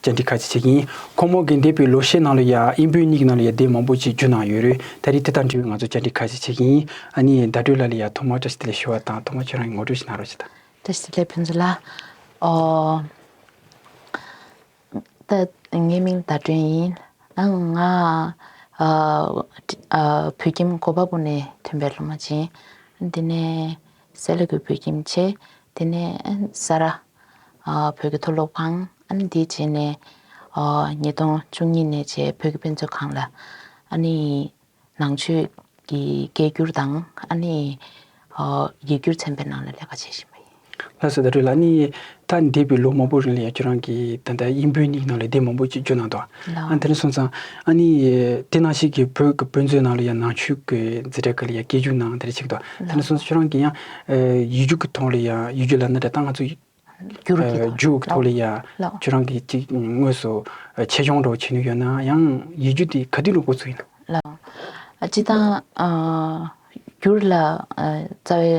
བཅར་འདྲི་ཁ་ཅིག་བྱེད་ཀྱིན་ཡིན། ཁོང་མོ་གིས་འདས་པའི་ལོ་ཤས་ནང་ལ་ཡང་དབྱིན་བོད་གཉིས་ཀྱི་ནང་ལ་ཡ་དེ་མང་པོ་ཅིག་བརྒྱུད་གནང་ཡོད་རེད། ད་རེས་དེ་དང་འབྲེལ་བའི་ང་ཚོ་བཅར་འདྲི་ཁ་ཅིག་བྱེད་ཀྱིན་ཡིན། ཨ་ནེ། བརྡ་སྤྲོད་ལ་ལས་ཡག་ཐོག་མར་བཀྲ་ཤིས་བདེ་ལེགས་ཞུ་བ་དང་ཐོག་མར་ཁྱེད་རང་གི་ངོ་སྤྲོད་ཅིག་གནང་རོགས་བྱེད་དང། བཀྲ་ཤིས་བདེ་ལེགས་ཕན་ཚུན་ལ། ད་ངའི་མིང་བརྡ་སྒྲོན་ཡིན། ང་བོད་ཁྱིམ་གོ་པ་པོ་ནས་ཐོན་པའི་སློབ་མ་བྱིངས། དེ་ནས་སེ་ལ་གུ་བོད་ཁྱིམ་བྱས། དེ་ནས་ས་རཱ། བོད་ཀྱི་མཐོ་སློབ་ཁང་འདི་རྗེས་ནས་ཉིས་སྟོང་བཅུ་གཉིས་ནས་རྗེས་བོད་ཀྱི་དཔེ་མཛོད་ཁང་ལ་ནང་ཆོས་ཀྱི་སྐད་བསྒྱུར་དང་ཡིག་བསྒྱུར་ཚན་པའི་ནང་ལ་ལས་ཀ་བྱེད་བཞིན་པ་ཡིན། ལྷ་ས་དར་གྲོལ་ལ་ད་འདས་པའི་ལོ་མང་པོ་རིང་ལ་ཡང་ཁྱོད་རང་གིས་ད་ལྟ་དབྱིན་བོད་གཉིས་ཀྱི་ནང་ལ་སྡེབ་མང་པོ་ཞིག་བསྒྱུར་གནང་འདུག་དེ་ནས་སོང་ཙང་དེ་ནང་བཞིན་གྱི་བོད་ཀྱི་དཔེ་མཛོད་ནང་ལ་ཡང་ནང་ཆོས་ཀྱི་མཛེས་སྡེར་ཁག་ལ་ཡང་སྐད་བསྒྱུར་གནང་དེ་འདྲ་བྱེད་ཀྱི་འདུག་དེ་ནས་སོང་ཙང་ཁྱོད་རང་གིས་ཡང་ཡུལ་རྒྱུག་གི་ཐོག་ལ་ཡང་ཡུལ་རྒྱུག་ལ་ནི་དེ་ལྟ་ང་ཚོ། རྒྱུག་གི་ཐོག་ལ་ཡང་ཁྱོད་རང་གིས་ཅིག་དངོས་སུ་ཆེད་སྦྱོང་འགྲོ་བྱེད་ནུས་ཡོད་ན་ཡང་ཡུལ་རྒྱུག་དེ་ག་དུས་འགྲོ་དགོས་ཚུལ་ཡིན། ཅི་ད། རྒྱུག་ལ་རྩ་བའི་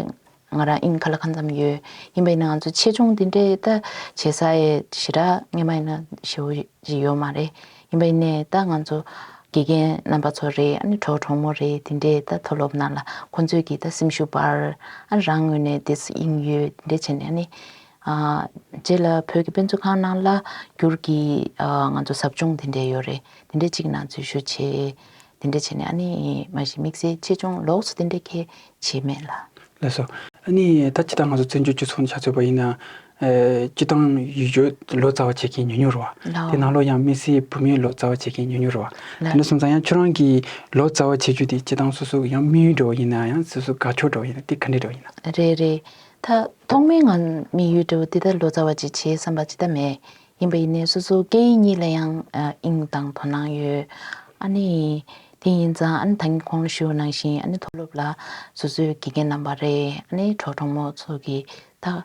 ང་རང་ཨིན་ཁ་ལ་ཁ་མཚམས་ཡོད་ཡིན་པ་ཡིན་ན་ང་ཚོ་ཆེད་སྦྱོང་དེ་འདྲའི་ད་བྱེད་ས་ཡི་ཞེ་དྲག་ངེས་མ་ཡིན་ན་ཞེ་བོ་ཞིག་ཡོད་མ་རེད། ཡིན་པ་ཡིན་ནས་ད་ང་ཚོ་དགེ་རྒན་རྣམ་པ་ཚོ་རེད་ཨ་ནི་གྲོགས་གྲོགས་མོ་རེད་དེ་འདྲས་ད་མཐོ་སློབ་ནང་ལ་ཁོང་ཚོས་ཀྱིས་ད་སེམས་ཤུགས་སྤར་ཨ་ནི་རང་ངོས་ནས་འདིས་དབྱིངས་ཡོད་དེ་འདྲས་བྱས་ནས་ཨ་ནི། རྗེས་ལ་བོད་ཀྱི་དཔེ་མཛོད་ཁང་ནང་ལ་བསྒྱུར་གྱིས་ང་ཚོ་ཟབ་སྦྱོང་དེ་འདྲས་ཡོད་རེད་དེ་འདྲས་གཅིག་ནང་འཛུལ་ཞུ་བྱེད་དེ་འདྲས་བྱས་ནས་ཨ་ནི་མ་གཞི་དམིགས་བསལ་ཆེད་སྦྱོང་ལོགས་སུ་དེ་འདྲས་ཁས་བྱས་མེད་ལ། ལས་སོ། ཨ་ནི་ད་ཇི་ལྟར་ང་ཚོ་བཙན་བྱོལ་སྤྱི་ཚོགས་ནས་ཆ་མཚོན་པ་ཡིན་ན་སྤྱི་བཏང་ཡུལ་བོད་ལོ་ཙཱ་བ་བྱེད་མཁན་ཉུང་ཉུང་རུ་བ། དེ་ནང་ལོ་ཡང་དམིས་བསལ་བོད་མིའི་ལོ་ཙཱ་བ་བྱེད་མཁན་ཉུང་ཉུང་རུ་བ། དེ་འདྲ་སོང་ཙང་ཡང་ཁྱོད་རང་གིས་ལོ་ཙཱ་བ་བྱེད་རྒྱུ་དེ་སྤྱི་བཏང་སོ་སོ་གི་ཡང་དམིགས་ཡུལ་འགྲོ་བ་ཡིན་ན་ཡང་སོ་སོ་དགའ་ཕྱོགས་འགྲོ་བ་ཡིན་ན་དེ་ག་འདྲའི་འགྲོ་བ་ཡིན་ན། རེད་རེད། ད་ཐོག་མའི་ང་དམིགས་ཡུལ་འགྲོ་བ་འདི་ད་ལོ་ཙཱ་བ་ཅིག་བྱེད་བསམ་པ་ཅི་ད་མེད། ཡིན་པ་ཡིན་ནའི་སོ་སོ་སྐད་ཡིག་གཉིས་ལ་ཡང་དབྱིངས་དང་དོ་སྣང་ཡོད། ཨ་ནི། དེ་ཡིན་ཙང་ཨ་ནི་ད་ངས་ཁོང་ལ་ཞུ་བ་ནང་བཞིན་ཨ་ནི་མཐོ་སློབ་ལ་སོ་སོའི་དགེ་རྒན་རྣམ་པ་རེ་ཨ་ནི་གྲོགས་གྲོགས་མོ་ཚོ་གི་དག།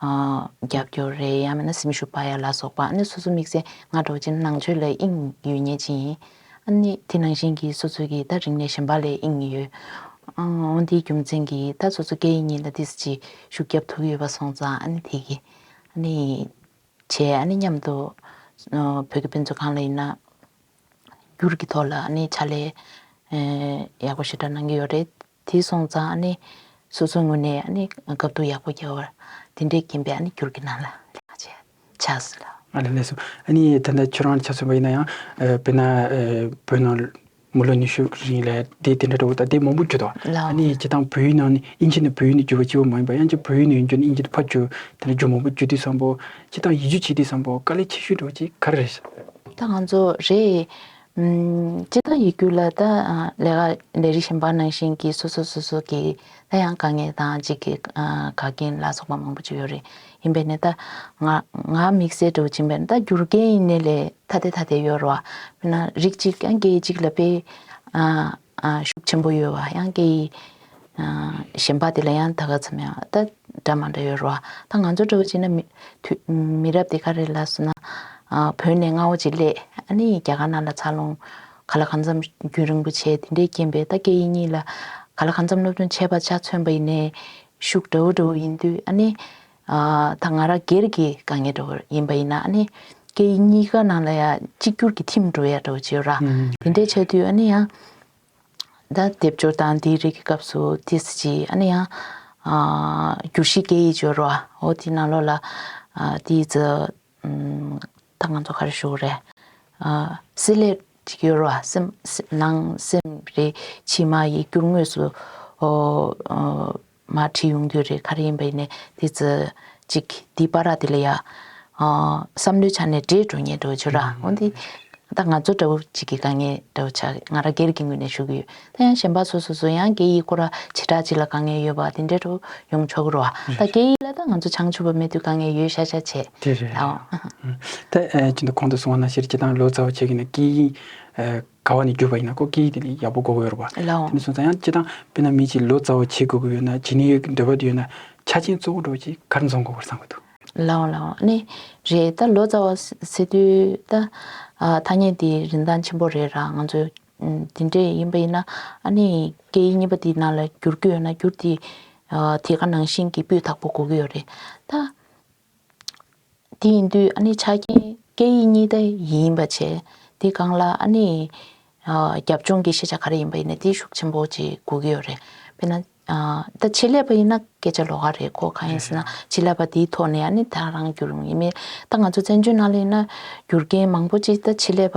རྒྱབ་སྐྱོར་རེད་ཡང་མིན་ན་སེམས་ཤུགས་སྤར་ཡ་ལ་སོགས་པ་ནི་སོ་སོ་དམིགས་བསལ་ང་གྲོགས་ཅན་ནང་ཆོས་ལ་དབྱིངས་ཡོད་ཉེ་ཅི་ཡིན། ནི་དེ་ནང་བཞིན་གྱི་སོ་སོ་གྱི་ད་རིང་ནས་ཞེན་པ་ལས་དབྱིངས་ཡོད། འོན་དེའི་རྒྱུ་མཚན་གྱི་ད་སོ་སོ་སྐད་ཡིག་གཉིས་ལ་དིས་ཅི་ཞུགས་རྒྱབ་ཐུག་ཡོད་པ་སོང་ཙང་ནི་དེ་གི། ནི། བྱས་ནི་མཉམ་དུ། བོད་ཀྱི་དཔེ་མཛོད་ཁང་ལ་ཡིན་ན། འགྱུར་གྱི་ཐོག་ལ་ནི་ཕྱག་ལས། ཡག་པོ་ཞེ་དྲག་གནང་གི་ཡོད་རེད། དེ་སོང་ཙང་ཨ་ནི། སོ་སོའི་ངོས་ནས་ཨ་ནི་དགའ་བསྡུར་ཡག་པོ་རྒྱག་བར། དེ་འདྲའི་རྐྱེན་པས་ཨ་ནི་གུར་གྱི་ནང་ལ་ལས་ཀ་བྱེད་ཆགས་སྲིད་ལ། ཨ་ལས་ལས་སོ། ཨ་ནི་ད་ལྟ་ཁྱོད་རང་ལ་ཆ་མཚོན་པ་ཡིན་ན་ཡང། དཔེར་ན། བོད་ནང་མི་ལོ་ཉི་ཤུ་རིང་ལ་སྡེ་དེ་འདྲ་དྲ་བོ་དང་སྡེ་མང་པོ་གྱུར་ཏོ། ཨ་ནི་བྱེད་སྟངས་བོད་ཡུལ་ནང་ནས་དབྱིན་ཇི་ནས་བོད་ཡུལ་ནས་བསྒྱུར་བ་སྐྱིད་པོ་མ་ཡིན་པར་ཡང་བསྐྱར་བོད་ཡུལ་ནས་དབྱིན་ཇི་དུ་ཕར་བསྒྱུར། དེ་འདྲ་བསྒྱུར་མང་པོ་བསྒྱུར་དུས་བསམ་པོ། བྱེད་སྟངས་ཡིད་སྤྱོད་བྱེད་དུས་བསམ་པོ་དཀའ་ལས་ཆེ་ཤོས་འགྲོ་བ་ཅིག་ག་རེ་རེད། ད་ང་ཚོ་རེད། སྤྱི་དང་ཡིག་སྒྱུར་ལ་ད་ལས་ཀ་ལས་རིགས་གཞན་པ་ནང་བཞིན་གྱི་སོ་སོ་སོ་སོ་གྱི་ད་ཡང་དཀའ་ངལ་དང་འཇིགས་སྐལ་དགའ་རྐྱེན་ལ་སོགས་པ་མང་པོ་བཅུ་ཡོད་རེད་ཡིན་པས་ནས་ད་ང་ང་དམིགས་བསལ་དུ་བྱིན་པས་ནས་ད་སྒྱུར་མཁན་ཡིན་ནས་ལས་ཐ་དད་ཐ་དད་ཡོད་རོ། དཔེར་ན་རིགས་གཅིག་གིས་རྒྱལ་གཅིག་ལ་དཔེ། ཤུགས་ཆེན་པོ་ཡོད་བ་ཡང་སྐད་ཡིག་གཞན་པ་དེ་ལ་ཡང་ད་ག་ཚོད་མེད་བ་ད་སྒྲ་མང་དྲག་ཡོད་རུང་བ་ད་ང་ཚོ་འདྲ་བོ་བྱས་ན་མི་རབས་དེ་ག་རེ་ལ་སོང་ན་བོད་ནས་རྔ་བོ་ཅིག་སླེད་ཨ་ནི་རྒྱ་གར་ནང་ལ་འཚར་ལོངས་ག་ལ་གང་འཚམ་རྒྱུན་རིང་པོ་བྱས་དེ་འདྲའི་རྐྱེན་པས་ད་སྐད་ཡིག་གཉིས་ལ་ག་ལ་གང་འཚམ་སློབ་སྦྱོང་བྱས་པ་ཆ་མཚོན་པ་ཡིན་ནའི་ཤུགས་འདྲ་བོ་འདྲ་བོ་ཡིན་དུས་ཨ་ནི་ད་ང་རང་སྒེར་གྱི་དཀའ་ངལ་འགྲོ་གི་ཡིན་པ་ཡིན་ན་ནི་སྐད་ཡིག་གཉིས་ཀ་ནང་ལ་ཡང་གཅིག་གྱུར་གྱི་ཐིམ་འགྲོ་ཡག་འགྲོ་ཅེས་ར་དེ་འདྲའི་བྱས་དུས་ནི་ཡང་ད་སྡེབ་སྦྱོར་དང་དེའི་རིགས་ཀྱི་སྐབས་སུ་དེ་སྲིད་ཀྱི་ཨ་ནི་ཡང་བསྒྱུར་གཞིའི་སྐད་ཡིག་སྦྱོར་བ་འོ་དེའི་ནང་ལོགས་ལ་དེའི་རྩི་ད་ང་ཚོ་ག་རེ་བཞུགས་རེད་སྲི་ལེབ་ཅིག་ཡོད་ར་སེམས་ནང་སེམས་རེད་ཕྱི་མ་ཡིག་སྒྱུར་དངོས་སུ་མ་ཁྲིད་ཡོང་རྒྱུ་རེད་ག་རེ་ཡིན་པ་ཡིན་ནའི་དེ་ཚོ་ཅིག་དེའི་པར་ར་དེ་ལ་ཡ། བསམ་བློའི་ཆ་ནས་བྲེལ་འགྲོ་ཉེན་འགྲོ་ཆུར་ར་འོན་ཏེ། ད་ང་ཚོ་འདྲ་བོ་ཅིག་གི་དཀའ་ངལ་འདྲ་བོ་ཆགས་ང་རང་སྒེར་གྱི་ངོས་ནས་ཞུ་གི་ཡོད་ད་ཡང་གཞན་པ་ཚོ་སོ་སོ་ཡང་སྐད་ཡིག་སྐོར་ར་བྱེ་བྲག་ཅིག་ལ་དཀའ་ངལ་ཡོད་པ་དེ་འདྲ་འགྲོ་ཡོང་ཆོག་གི་རོ་ཨ་ད་སྐད་ཡིག་ལ་ད་ང་ཚོ་བྱང་ཆུབ་པ་མེད་དུས་དཀའ་ངལ་ཡོད་ཤ་ཤ་བྱས་དེ་རེད་ད་ཨོ། ད་ཅི་འདི་གོང་དུ་སོང་བ་ན་ཤེས་རེ་སྐྱེ་སྟངས་ལོ་ཙཱ་བ་བྱེད་ཀྱི་ནས་སྐད་ཡིག། དགའ་བ་ནི་འགྱོད་པ་ཡིན་ན་ཀོ་ཀིའི་དེ་ནི་ཡག་པོ་གོ་གི་ཡོད་རེད་བ། ལ་འོང། དེ་ནས་བཟུང་ད་ཡང་སྤྱི་བཏང་དཔེར་ན་མི་གཅིག་ལོ་ཙཱ་བ་བྱེད་དགོས་ཀྱི་ཡོད་ན་བྱེད་ནུས་ཡོད་ཀྱི་འདོད་པ་དེ་ཡོད་ན་ཆ་ཆེན་གཙོ་བོ་འགྲོ་ཅིག་གར་འཛོམས་དགོས་པར་བསམ་གྱི་འདུག། ལ་འོང་ལ་འོང་ནི་རེད་ད་ལོ་ཙཱ་བ་བྱེད་དུས་ད་ཐ་སྙད་དེ་རིན་ཐང་ཆེན་པོ་རེད་ར་ང་ཚོས་དེ་འདྲས་ཡིན་པ་ཡིན་ན་ཨ་ནི་སྐད་ཡིག་གཉིས་པ་དེ་ནང་ལ་བསྒྱུར་རྒྱུ་ཡོད་ན་བསྒྱུར་དེ་དེ་ག་ནང་བཞིན་གྱི་སྤུས་དག་པོ་གོ་གི་ཡོད་རེད་ད། དེ་ཡིན་དུས་ཨ་ནི་ཆ་རྐྱེན་སྐད་ཡིག་གཉིས་ལྟ་ཡིན་པ་བྱས་དེ་སྒང་ལ་ཨ་ནི་རྒྱབ་ལྗོངས་ཀྱི་ཤེས་བྱ་ག་རེ་ཡིན་པ་ཡིན་ན་དེ་ཤུགས་ཆེན་པོ་ཅིག་སྒུག་གི་ཡོད་རེད་དཔེར་ན་ད་ཆེད་ལས་པ་ཡིན་ན་སྐད་ཆ་ལོག་ག་རེད་གོ་གང་ཡིན་ཟེར་ན་ཆེད་ལས་པ་དེའི་ཐོག་ནས་ཨ་ནི་ད་རང་བསྒྱུར་ངེས་མེད་ད་ང་ཚོ་བཙན་བྱོལ་ནང་ལ་ཡིན་ན་བསྒྱུར་མཁན་མང་པོ་ཅིག་ད་ཆེད་ལས་པ་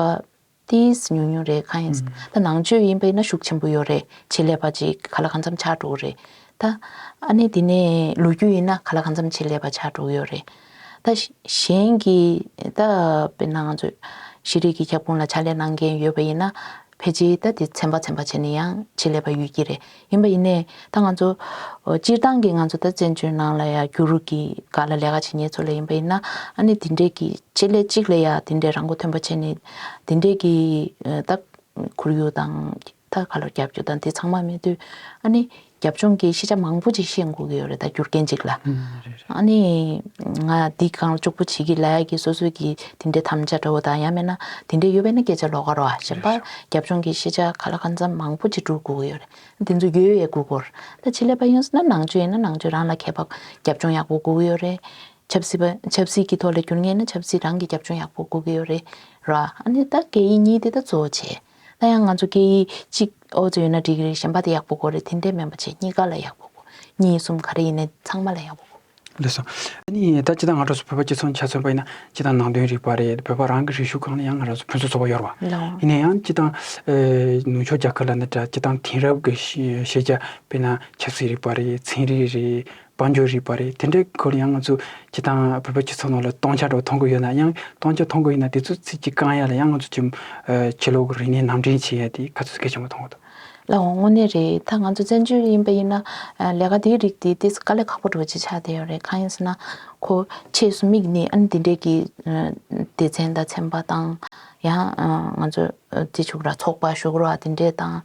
ཏིས་ཉུང་ཉུང་རེད་གང་ཡིན་ད་ནང་ཆོས་ཡིན་པས་ན་ཤུགས་ཆེན་པོ་ཡོད་རེད་བྱེད་ལས་པ་ཅིག་ག་ལ་གང་འཚམ་ཆགས་འགྲོ་གི་རེད་ད། ཨ་ནེ་དེ་ནས་ལོ་རྒྱུས་ཡིན་ན་ག་ལ་གང་འཚམ་བྱེད་ལས་པ་ཆགས་འགྲོ་གི་ཡོད་རེད་ད། གཞན་གྱི་ད་དཔེར་ན་ང་ཚོས་ཤེས་རིག་གི་ཁྱབ་ཁོངས་ལ་ཕྱག་ལས་གནང་མཁན་ཡོད་པ་ཡིན་ན་ཕལ་ཆེར་ད་དེ་ཚན་པ་ཚན་པ་བྱས་ནས་ཡང་བྱེད་ལས་པ་ཡོད་ཀྱི་རེད་ཡིན་པ་ཡིན་ནས་ད་ང་ཚོ། སྤྱིར་བཏང་གི་ང་ཚོ་ད་བཙན་བྱོལ་ནང་ལ་ཡ་རྒྱུ་རུ་གི་ག་ལ་ལས་ཀ་བྱེད་ཉེ་ཚོ་ལ་ཡིན་པ་ཡིན་ན་ཨ་ནི་དེ་འདྲས་ཀྱི་ཆེད་ལས་གཅིག་ལ་ཡ་དེ་འདྲས་རང་མགོ་ཐོན་པ་བྱས་ནས་དེ་འདྲས་ཀྱི་ད་ཁུར་ཡུག་དང་ད་ག་ལ་རྒྱབ་རྒྱུ་དང་དེ་ཚང་མ་མེད་དུས་ཨ་ནི་རྒྱབ་ལྗོངས་ཀྱི་ཤེས་བྱ་མང་པོ་ཅིག་ཤེས་འགོ་གི་ཡོད་རེད་ད་རྒྱུ་རྐྱེན་གཅིག་ལ། ཨ་ནི་ང་འདི་གང་ལྕོགས་པོ་བྱེད་ཀྱི་ལ་ཡ་གི་སོ་སོ་གི་དེ་འདྲས་དམ་བཅའ་འདྲ་བོ་དང་ཡ་མེད་ན་དེ་འདྲས་ཡོད་པས་ན་སྐད་ཆ་ལོག་ག་རོ་ཨ་ཞེས་པ་རྒྱབ་ལྗོངས་ཀྱི་ཤེས་བྱ་ག་ལ་གང་འཚམ་མང་པོ་གཅིག་གྲུག་གུག་གི་ཡོད་རེད། དེ་ཚོ་ཡོད་ཡོད་གུག་གོ། ད་ཕྱི་ལས་པ་ཡོང་སྲིད་ན་ནང་ཆོས་ཡིན་ན་ནང་ཆོས་རང་ལ་ཁྱད་པ་རྒྱབ་ལྗོངས་ཡག་པོ་གུག་གི་ཡོད་རེད། ཆབ་སྲིད་པ་ཆབ་སྲིད་ཀྱི་ཐོག་ལ་འགྱུར་ངེས་ན་ཆབ་སྲིད་རང་གི་རྒྱབ་ལྗོངས་ཡག་པོ་གུག་གི་ཡོད་རེད་ར། ཨ་ནི་ད་སྐད་ཡིག་གཉིས་དེ་ད་གཙོ་བོ་བྱས། ད་ཡང་ང་ཚོ་སྐད་ཡིག་གཅིག་ཨོ་རྩལ་ཡོད་ན་འགྲིག་གི་རེད་གཞན་པ་དེ་ཡག་པོ་གོ་རེད་དེ་འདྲའི་མེད་པ་བྱས་གཉིས་ཀ་ལ་ཡག་པོ་གོ། གཉིས་གསུམ་ག་རེ་ཡིན་ནའི་ཚང་མ་ལ་ཡག་པོ་གོ། ལེགས་སོ། ཨ་ནི། ད་ཅི་དང་ང་གྲོགས་སུ་བོད་པ་སྤྱི་ཚོགས་ཆ་མཚོན་པ་ཡིན་ན་ཅི་དང་ནང་དོན་རིག་པ་རེད་བོད་པ་རང་གི་རིག་གཞུང་གང་ལ་ཡང་ང་གྲོགས་སུ་ཕུན་སུ་ཚོགས་པ་ཡོད་རེད་བ། ཡིན་ན་ཡང་ཅི་དང། ནུབ་ཕྱོགས་རྒྱ་ཁབ་ལ་ནི་དྲ་སྤྱི་དང་དེང་རབས་ཀྱི་ཤེས་བྱ་དཔེ་ན་ཆབ་སྲིད་རིག་པ་རེད་ཚན་རིག་རེད་དཔལ་འབྱོར་རིག་པ་རེད་དེ་འདྲའི་སྐོར་ཡང་ང་ཚོས་ཅི་དང་བོད་པ་སྤྱི་ཚོགས་ནང་ལ་སྟོང་ཆ་འགྲོ་མཐོང་གི་ཡོད་ན་ཡང་སྟོང་ཆ་མཐོང་གི་ཡིན་ན་དེ་ཚོའི་ཚིག་གི་རྐང་ཡ་ལ་ཡང་ང་ཚོས་ཅི། ཕྱི་ལོག་གི་རིག་གནས་ནང་འདྲེན་བྱེད་ཡ་དེ་ག་ཚོད་གལ་ཆེན་པོ་མཐོང་གི་འདུག། ལ་འོང་དངོས་གནས་རེད་ད་ང་ཚོ་བཙན་བྱོལ་ཡིན་པ་ཡིན་ན་ལས་ཀ་དེའི་རིགས་དེ་དེ་ཀ་ལས་ཁག་པོ་འགྲོ་བྱེད་ཆགས་བསྡད་ཡོད་རེད་གང་ཡིན་ཟེར་ན། ཁོ་ཆེས་སུ་དམིགས་ནས་ཨ་ནི་དེ་འདྲས་ཀྱི་སྡེ་ཚན་དང་ཚན་པ་དང། ཡང་ང་ཚོ་བརྩི་ཆུགས་ར་ཚོགས་པ་ཞོགས་ར་དེ་འདྲས་དང།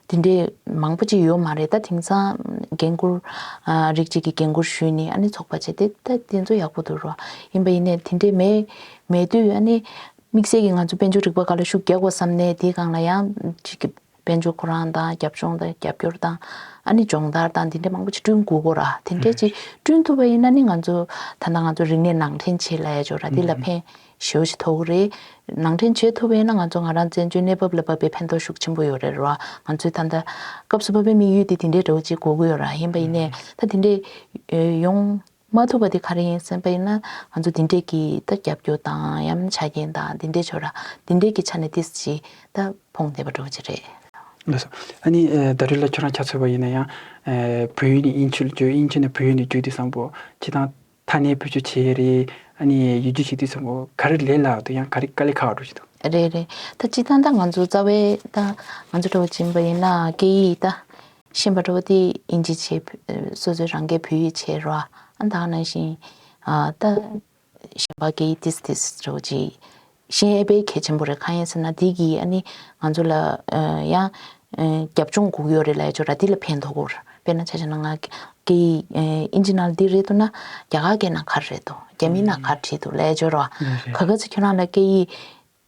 དེ་འདྲས་མང་པོ་ཅིག་ཡོད་མ་རེད་ད་དེང་སང་འགན་ཁུར། རིགས་གཅིག་གི་འགན་ཁུར་ཞུས་ནས་ཨ་ནི་ཚོགས་པ་བྱས་ཏེ་ད་དེ་ཚོ་ཡག་པོ་འདུག་རོགས་ཡིན་པ་ཡིན་ནས་དེ་འདྲས་མེད་མེད་དུས་ཨ་ནི་དམིགས་བསལ་གྱིས་ང་ཚོ་དཔལ་འབྱོར་རིག་པ་འགའ་ལ་ཤུགས་རྒྱག་དགོས་བསམ་ནས་དེའི་སྒང་ལ་ཡང། དཔལ་འབྱོར་ཁོ་རང་དང་རྒྱབ་ལྗོངས་དང་རྒྱབ་སྐྱོར་དང། ཨ་ནི་སྦྱོང་བརྡར་དང་དེ་འདྲས་མང་པོ་ཅིག་བསྐྲུན་དགོས་གོ་ར། དེ་འདྲས་ཅིག་བསྐྲུན་ཐུབ་པ་ཡིན་ན་ནི་ང་ཚོ་ད་ལྟ་ང་ཚོ་རིག་གནས་ནང་འདྲེན་བྱེད་ལ་ཡ་ཆོག་ར་དེ་ལ་ཕན་ཞེའོ་ཞིག་ཐོགས་གི་རེད། ནང་འདྲེན་བྱེད་ཐུབ་པ་ཡིན་ན་ང་ཚོ་ང་རང་བཙན་བྱོལ་གནས་བབ་ལ་བབས་པའི་ཕན་ཐོགས་ཤུགས་ཆེན་པོ་ཡོད་རེད་ར། ང་ཚོའི་ད་ལྟ་སྐབས་སུ་བབས་པའི་དམིགས་ཡུལ་དེ་དེ་འདྲས་འདྲ་བོ་ཅིག་གོ་གི་ཡོད་ར་ཡིན་པ་ཡིན་ནས་ད་དེ་འདྲས་ཡོང། མ་ཐུབ་པ་དེ་ག་རེ་ཡིན་སེམས་པ་ཡིན་ན་ང་ཚོ་འདི་འདྲས་ཀྱི་ད་རྒྱབ་སྐྱོར་དང་ཡམ་ཆ་རྐྱེན་དང་འདི་འདྲས་བྱོས་ར་འདི་འདྲས་ཀྱི་ཆ་ནས་དེས་ཅི་ད་ཕོངས་བསྡད་པ་འགྲོ་གྱི་རེད། ལགས་སོ། ཨ་ནི་ད་རེས་ལ་ཁྱོད་རང་ཁྱ་ཚོད་པ་ཡིན་ན་ཡང། བོད་ཡིག་ནས་དབྱིན་ཆུ་ལ་བསྒྱུར་དབྱིན་ཆུ་ནས་བོད་ཡིག་ནས་བསྒྱུར་དུས་བཟང་པོ། ཁྱེད་རང་ཐ་སྣེ་བོད་ཆུ་བྱེད་ཡས་རེད། ཨ་ནི་ཡུལ་རྒྱུ་བྱེད་དུས་བཟང་པོ་ག་རེ་ལས་ལགས་འདུག་ཡང་ག་རེ་དཀའ་ལས་ཁག་འགྲོ་གྱི་འདུག། རེད་རེད་ད་སྤྱི་སྟངས་ད་ང་ཚོ་རྩ་བའི་ད་ང་ཚོ་གྲོགས་པོ་བྱིན་པ་ཡིན་ན་སྐད་ཡིག་ད། ཤེས་པ་དྲོ་དེ་ཨིན་ཇི་བྱེད། སོ་སོའི་རང་སྐད་བོད་ཡིག་བྱེད་རོགས་ཨ་མདའ་ནང་བཞིན། ད། གཞན་པ་སྐད་ཡིག་དིས་དིས་རེད་བོ་ཇི། ཤེས་ཨེ་པའི་གལ་ཆེན་པོ་རེད་ཁ་ཡན་ཟེར་ན་དེ་གིས་ཨ་ནི་ང་ཚོ་ལ། ཡང། རྒྱབ་ལྗོངས་སྒུག་ཡོད་རེད་ལ་ཡ་ཅོ་ར་དེ་ལ་ཕན་ཐོག་གོ། དཔེར་ན་ཆ་ཆ་ན་ང། སྐད་ཡིག་ཨིན་ཇི་ནང་དིར་རེད་འདུག་ན། རྒྱ་གར་སྐད་ནང་གར་རེད་འདུག་རྒྱ་མི་ནང་གར་བྲིས་འདུག་ལ་ཡ་ཅོ་ར། ག་ག་ཚོད་ཁྱོད་རང་ལ་སྐད་ཡིག།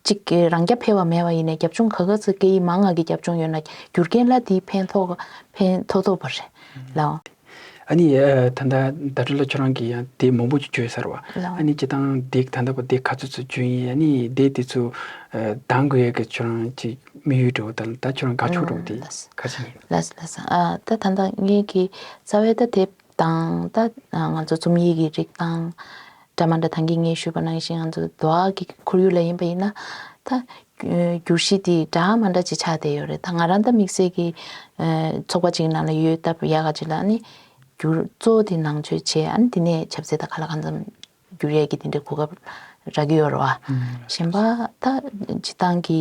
གཅིག། རང་རྐྱ་འཕེར་བ་མེད་པ་ཡིན་ནས་རྒྱབ་ལྗོངས་ག་ག་ཚོད་སྐད་ཡིག་མང་ང་གི་རྒྱབ་ལྗོངས་ཡོད་ན་རྒྱུ་རྐྱེན་ལ་དེའི་ཕན་ཐོགས་ཐོགས་ཐོགས་པ་རེད་ལ། ཨ་ནི། ད་ལྟ་ཟླ་སྒྲོན་ལ་ཁྱོད་རང་གིས་ཡང་སྡེ་མང་པོ་ཅིག་བྱོས་ཟེར་བ། ཨ་ནི་སྤྱི་བཏང་སྡེ་ད་ལྟ་བ་སྡེ་ག་ཚོད་ཚོད་བྱོས་ཡིན་ཨ་ནི་སྡེ་དེ་ཚོ་བདང་དགོས་ཡ་གི་ཁྱོད་རང་ཅིག་དམིགས་ཡུལ་འགྲོ་དང་ད་ཁྱོད་རང་དགའ་ཆོག་འགྲོ་དེ་ག་ཚོད་ཡིན། ལ། ད་ད་ངེད་ཀྱི་རྩ་བའི་ད་དེ་དང། ད་ང་ཚོ་རྩོམ་ཡིག་གི་རིགས་དང། སྒྲ་མ་འདྲ་ཐང་གིས་ངས་ཞུས་པ་ནང་བཞིན་ང་ཚོ་དུ་བ་གི་ཁོར་ཡུག་ལ་ཡིན་པ་ཡིན་ན། ད། བསྒྱུར་གཞི་དེ་སྒྲ་མ་འདྲ་ཅིག་ཆགས་བསྡད་ཡོད་རེད་ད་ང་རང་ད་དམིགས་བསལ་གྱི། ཚོགས་པ་ཅིག་ནང་ལ་ཡོད་སྟབས་ཡག་ག་ཅིག་ལ་ནི། བསྒྱུར་གཙོ་དེ་ནང་ཆོས་བྱེད་ཨ་ནི་དེ་ནས་ཆབ་སྲིད་དང་ག་ལ་གང་འཚམས། འགྱུར་ཡས་ཀྱི་དེ་འདྲའི་གོ་སྐབས་རག་གི་ཡོད་རེད་བ། གཞན་པ་ད་སྤྱི་བཏང་གི་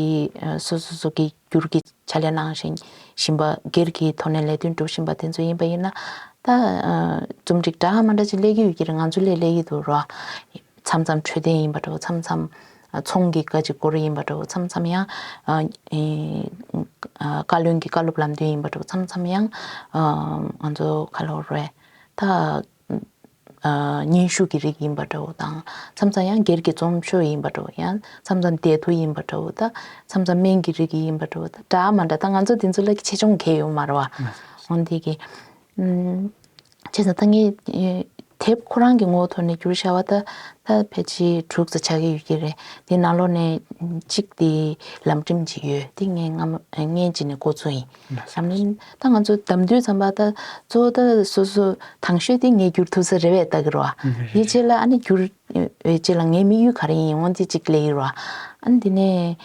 སོ་སོ་སོ་གི་འགྱུར་གྱི་ཕྱག་ལས་གནང་བཞིན་བཞིན་པ་སྒེར་གྱི་ཐོག་ནས་ལས་དོན་སྒྲུབ་བཞིན་པ་དེ་ཚོ་ཡིན་པ་ཡིན་ན། ད་རྩོམ་སྒྲིག་འདྲ་མ་འདྲ་ཅིག་སླེབས་ཀྱི་ཡོད་ཀྱི་རེད་ང་ཚོ་ལས་སླེབས་ཀྱི་འདུག་རེད་བ། མཚམས་མཚམས་འཕྲོད་བསྟེན་ཡིན་པ་འདྲ་བོ་མཚམས་མཚམས་ཚོང་གི་བཀའ་ཅི་སྐོར་ཡིན་པ་འདྲ་བོ་མཚམས་མཚམས་ཡང་བཀའ་བློན་གྱི་བཀའ་སློབ་ལམ་སྟོན་ཡིན་པ་འདྲ་བོ་མཚམས་མཚམས་ཡང་ང་ཚོ་ཁ་ལོ་རེད། ད་སྙན་ཞུ་གི་རིགས་ཡིན་པ་འདྲ་བོ་དང་མཚམས་མཚམས་ཡང་སྒེར་གྱི་རྩོམ་ཆོས་ཡིན་པ་འདྲ་བོ་ཡང་མཚམས་མཚམས་བདེ་དུ་ཡིན་པ་འདྲ་བོ་དང་མཚམས་མཚམས་སྨན་གྱི་རིགས་ཡིན་པ་འདྲ་བོ་དང་འདྲ་མ་འདྲ་ད་ང་ཚོ་འདི་ཚོ་ལ་ཆེ་ཆུང་གས་ཡོད་མ་རེད་བ། འོན་ཏེ་གི། བྱས་ཙང་ད་ངས་དེབ་ཁོ་རང་གི་ངོ་བོ་ཐོག་ནས་བསྒྱུར་བྱ་བ་ད་ད་ཕལ་ཆེ་དྲུག་ཙ་ཆགས་ཀྱི་ཡོད་ཀྱི་རེད་དེ་ནང་ལོགས་ནས་གཅིག་དེ་ལམ་འགྲིམ་གྱི་ཡོད་དེ་ངས་སྔ་མོ་སྔས་ཀྱི་ནས་གོ་ཚོད་ཡིན། བསམ་ལེན། ད་ང་ཚོ་གདམ་དུས་ཙམ་པ་ད་གཙོ་བོ་ད་སོ་སོ་དྭངས་ཤོས་དེ་ངས་བསྒྱུར་ཐུབ་ས་རེད་བས་བལྟ་གི་རོ། དེ་རྗེས་ལ་ཨ་ནེ་བསྒྱུར་བའི་རྗེས་ལ་ངའི་དམིགས་ཡུལ་ག་རེ་ཡིན་ཡིན་འོང་དེ་གཅིག་གླེང་ཡི་རོ། ཨ་དེ་ནས་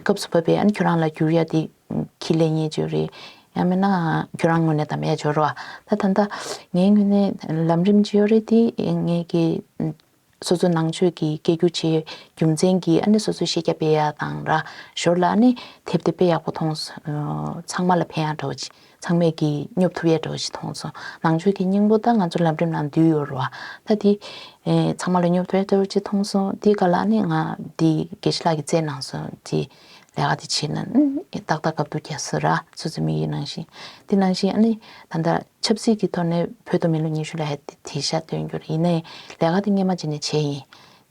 སྐབས་སུ་བབས་པས་ཨ་ནེ་ཁྱོད་རང་ལ་བསྒྱུར་ཡ་དེ་གི་ལེ་ཉེས་བྱོས་རེད། ཡང་མིན་ན་ཁྱོད་རང་ངོས་ནས་གདམ་ཡ་བྱོས་རོ། ད་ད་ལྟ་ངའི་ངོས་ནས་ལམ་རིམ་ཅི་ཡོད་རེད་དེ་ངས་ཀྱི། སོ་སོ་ནང་ཆོས་ཀྱི་སྐད་སྒྱུར་བྱེད་རྒྱུ་མཚན་གྱིས་ཨ་ནེ་སོ་སོའི་ཤེས་རྒྱ་སྤེལ་ཡ་དང་ར་ཞོར་ལ་ཨ་ནེ་དེབ་དེ་དཔེ་ཡག་པོ་མཐོང་སོང་ཚང་མ་ལ་ཕན་ཡ་འགྲོ་ཅིག་ཚང་མས་ཀྱིས་སྙོབ་ཐུབ་ཡ་འགྲོ་ཅིག་མཐོང་སོང་ནང་ཆོས་ཀྱི་སྙིང་པོ་ད་ང་ཚོ་ལམ་རིམ་ནང་འདུས་ཡོད་རོ་ད་དེ་ཚང་མ་ལ་སྙོབ་ཐུབ་ཡ་འགྲོ་ཅིག་མཐོང་སོང་དེ་ག་ལ་ཨ་ནེ་ང་དེ་དགེ་བཤེས་ལགས་ཀྱི་བཙས་གནང་སོང་དེ་ལས་ཀ་དེ་བྱེད་ན་ཏག་ཏག་གབ་འདུག་གྱ་སོ་ར་སོ་སོའི་མིག་ཡིད་ནང་བཞིན་དེ་ནང་བཞིན་ཨ་ནེ་ད་ལྟ། ཆབ་སྲིད་ཀྱི་ཐོག་ནས་བོད་དུ་མི་ལོ་ཉི་ཤུ་ལ་ཧད་དེ་དེ་ཤ་སྟོན་རྒྱུ་རེད་ཡིན་ན་ཡང་ལས་ཀ་དེ་སྔས་མ་བྱས་ནས་བྱས་ཡིན།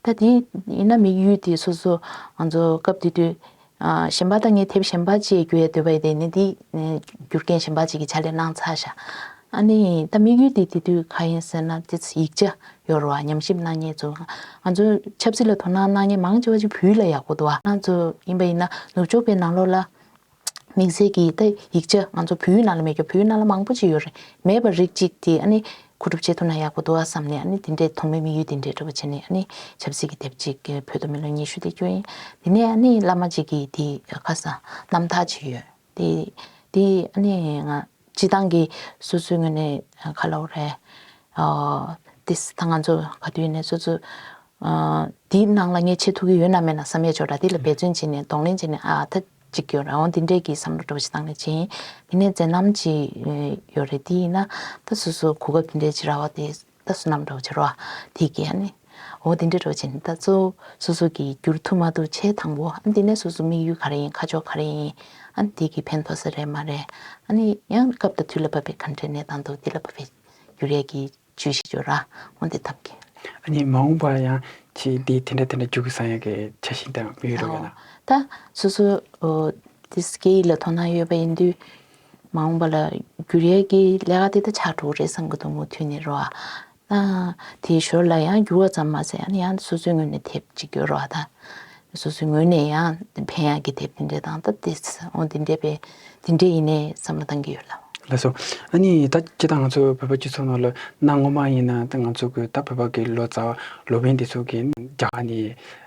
ད་དེ་ཡིན་ན་མི་ཡུལ་དེ་སོ་སོ་ང་ཚོ་སྐབས་དེ་དུས་གཞན་པ་དང་ངས་དེབ་གཞན་པ་བཅས་རྒྱུ་ཡས་འདོད་པ་ཡིན་དེ་ནས་དེ་རྒྱུ་རྐྱེན་གཞན་པ་བཅས་ཀྱི་ཆ་ལས་གནང་ཚར་ཤ་ཨ་ནི་ཡིན་ད་མི་ཡུལ་དེ་དེ་དུས་ག་ཡིན་ཟེར་ན་དེ་ཡིག་ཆ་ཡོད་རུ་བ་ཉམས་ཞིབ་གནང་ཉེས་ཚོ་ང་ཚོ་ཆབ་སྲིད་ལ་དོ་སྣང་གནང་ཉེས་མང་ཆེ་བ་ཅིག་བུའི་ལ་ཡག་པོ་འདུག་བ་ང་ཚོ་ཡིན་པ་ཡིན་ན་ནུབ་ཕྱོགས་པའི་ནང་ལོགས་ལ། མིང་གསལ་གྱི་ཡིག་བརྡ་ཡིག་ཆ་ང་ཚོ་བོད་ཡུལ་ནང་ལ་མེད་ཀྱང་བོད་ཡུལ་ནང་ལ་མང་པོ་ཅིག་ཡོད་རེད་མེད་པར་རིགས་གཅིག་དེ་ཨ་ནི་གོ་སྒྲུབ་བྱེད་ཐུབ་ན་ཡག་པོ་འདུག་ཨ་བསམ་ནས་ཨ་ནི་དེ་འདྲས་དོགས་མེད་དམིགས་ཡུལ་དེ་འདྲས་འགྲུབ་པ་བྱས་ནས་ཨ་ནི་ཆབ་སྲིད་ཀྱི་དེབ་ཅིག་གི་བོད་དུ་མི་ལོ་ཉི་ཤུ་དེ་བསྐྱོད་ཡིན་དེ་ནས་ཨ་ནི་བླ་མ་ཅིག་གིས་དེ་ཁ་སང་རྣམ་ཐག་ཅིག་ཡོད་དེ་དེ་ཨ་ནི་ང། སྤྱི་བཏང་གི་སོ་སོའི་ངོས་ནས་ཁ་ལོ་རེད། དེ་ད་ང་ཚོ་ག་དུས་ནས་སོ་སོ་དེའི་ནང་ལ་ངས་བྱེད་ཐུབ་ཀྱི་ཡོད་ན་མེད་ན་བསམ་ཡས་ཆོག་གྲ་དེ་ལ་འབད་བརྩོན་བྱས་ནས་གདོང་ལེན་བྱས་ནས་ཨ་ད་ཅིག་ཡོད་རང་དེ་འདྲས་ཀྱི་བསམ་བློ་གྲོས་ཞིག་བཏང་ནས་བྱས་ཡིན། དེ་ནས་མཛད་རྣམ་ཅིག་ཡོད་རེད་དེ་ཡིན་ན་ད་སོ་སོ་གོ་སྐབས་དེ་འདྲས་ཇི་ར་བ་དེ་ད་བསོད་ནམས་གྲོགས་བྱེད་རོགས་ཨ། དེ་གས་ནི། འོ་དེ་འདྲའི་རོགས་བྱེད་ད་གཙོ། སོ་སོ་གི་རྒྱུར་ཐུག་མ་འདུག་བྱས་དང་པོ་ཨ་འདི་ནས་སོ་སོ་དམིགས་ཡུལ་ག་རེ་ཡིན་ཁ་ཕྱོགས་ག་རེ་ཡིན་ཨ་དེ་གི་ཕན་ཐོགས་ས་རེད་མ་རེད་ཨ་ནི་ཡང་སྐབས་དང་དུས་ལ་བབ་པའི་ག་འདྲའི་གནས་སྟངས་འདུག་དེ་ལ་བབ་པའི་རྒྱུ་རས་ཀྱི་ཇུས་ཤིག་བརྗོད་ར་འོ་དེ་ཐབས་ཀྱི། ཨ་ནི་མ་འོངས་པར་ཡང་ཆེས་དེ་དེ་འདྲ་དེ་འདྲ་འགྱུར་གི་སང་ཡང་གི་ཆ་ཞིག་དང་འབུལ་རོགས་ཡོད་ན། ད་སོ་སོ། དེ་སྐད་ཡིག་ལ་དོ་སྣང་ཡོད་པ་ཡིན་དུས། མ་འོངས་པ་ལ་བསྒྱུར་ཡས་ཀྱི་ལས་ཀ་འདི་ད་ཆ་དྲུག་རེད་བསམ་གྱི་འདུག་མུ་མཐུད་ནས་རོ་ཨ། དེའི་ཞོར་ལ་ཡང་བསྒྱུར་བ་ཙམ་མ་ཟད་ཡང་ཡང་སོ་སོའི་ངོས་ནས་དེབ་ཅིག་ཡོད་རོ་ཨ་ད། སོ་སོའི་ངོས་ནས་ཡང་ཕན་ཡག་གི་དེབ་འདི་འདྲས་དང་ད་དེ་འོ་འདི་འདྲས་པས་འདི་འདྲས་ཡིན་ནའི་བསམ་བློ་གཏང་གི་ཡོད་ལ། ལགས་སོ། ཨ་ནི་ད་ཁྱེད་དང་ང་ཚོ་བོད་པ་སྤྱི་ཚོགས་ནང་ལ་གནའ་སྔོན་མ་ཡིན་ན་ད་ང་ཚོ་གི་ད་བོད་པ་གི་ལོ་ཙཱ་བ་ལོ་པན་འདི་ཚོ་གི་རྒྱ་གར་ནས་